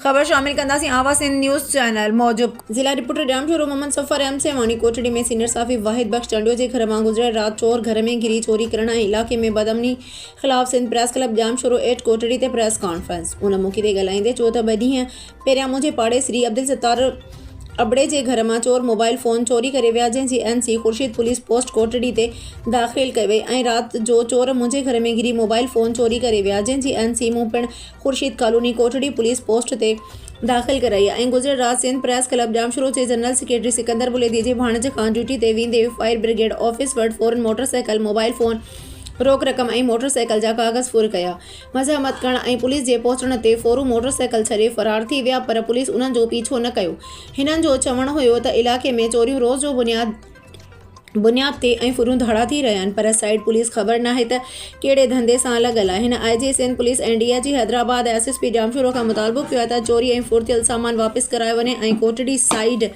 خبر شامل ڪنداسين آواز سنڌ نيوز چينل موجب. ضلع رپورٽر ڄام شورو محمد سفر ايم سي واڻي ڪوٽڙي ۾ سينيئر صحافي واحد بخش چانڊيو جي گهر مان گذريل رات چور گهر ۾ گهري چوري ڪرڻ ۽ علائقي ۾ بدامني خلاف Sindh press club Jamshoro at Kotri تي پريس ڪانفرنس ان موقعي تي ڳالهائيندي چيو ته ٻه ڏينهن پهريان منهنجي پاڙيسري عبدالستار ابڙي جي گهر مان چور موبائل فون چوري ڪري ويا جنهن جي N C Khurshid police post Kotri تي داخل ڪئي وئي ۽ رات جو چور منهنجي گهر ۾ گهري موبائل فون چوري ڪري ويا جنهن جي اين سي مون پڻ Khurshid colony Kotri police post تي داخل ڪرائي ۽ گذريل رات سنڌ پريس ڪلب ڄامشورو جي جنرل سيڪريٽري سڪندر بليدي جي ڀاڻيجي کان ڊيوٽي تي ويندي فائر برگيڊ آفيس وٽ فورن موٽر سائيڪل موبائل فون روڪ رقم ۽ موٽر سائيڪل جا ڪاغذ ڦر ڪيا مزاحمت ڪرڻ ۽ پوليس جي پهچڻ تي ڦورون موٽر سائيڪل ڇڏي فرار ٿي ويا پر پوليس انهن جو پيڇو نه ڪيو هنن جو چوڻ هيو ته علائقي ۾ چوريون روز جو بنياد بنياد تي ۽ ڦرون ڌاڙا ٿي رهيا آهن پر سائيٽ پوليس خبر ناهي ته ڪهڙي ڌنڌي سان لڳل آهي هن I G Sindh police ۽ D I G Hyderabad ۽ S S P Jamshoro کان مطالبو ڪيو آهي ته چوري ۽ ڦر ٿيل سامان واپس ڪرايو وڃي ۽ ڪوٽڙي سائيٽ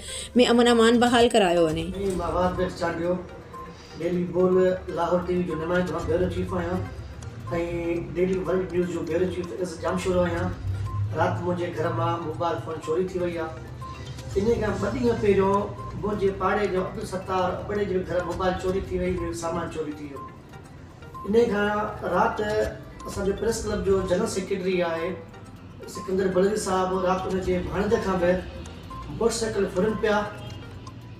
۾ امن امان بحال ڪرايو وڃي انهيء کان ٻه ڏينهن پهريون منهنجي پاڙي جو عبدالستار ابڙي جي گهر موبائل چوري ٿي وئي ۽ سامان چوري ٿي ويو. انهيء کان رات اسان جو پريس ڪلب جو جنرل سيڪريٽري آء سڪندر بلوچ صاحب رات ان جي ڀاڻيجي کان به موٽر سائيڪل ڦرن پيا.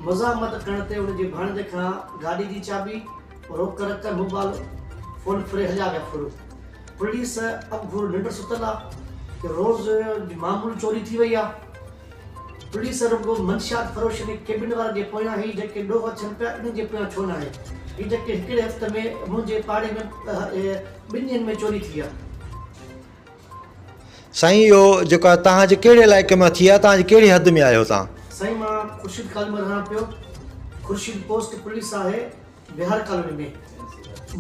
مزاحمت ڪرڻ تي ان جي ڀاڻيجي کان گاڏي جي چاٻي، روڪڙ رقم، موبائل فون ڦري هليا ويا. ڦرو. پوليس اب گهور ننڊ ستل آ ته روز جي معمول چوري ٿي وئي آ پوليس رڳو منشيات فروش ۽ ڪيبن وارن جي پويان هي جيڪي ڏوهه اچن پيا انهن جي پويان ڇو ناهي هي جيڪي هڪڙي هفت ۾ منهنجي پاڙي ۾ ٻن ڏينهن ۾ چوري ٿي آ. سائين اهو جيڪو آ توهان جي ڪهڙي علائقي مان ٿي آ توهان جي ڪهڙي حد ۾ آهيو توهان. سائين مان خورشيد ڪالمر رهان پيو خورشيد پوسٽ پوليس آهي بهار ڪالوني ۾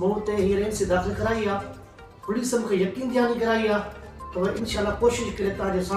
مون اتي هيئر ايم سي داخل ڪرائي آ پوليس مونکي يقين دهاني ڪرائي آ ته انشاء الله ڪوشش ڪري توهان جي سامهون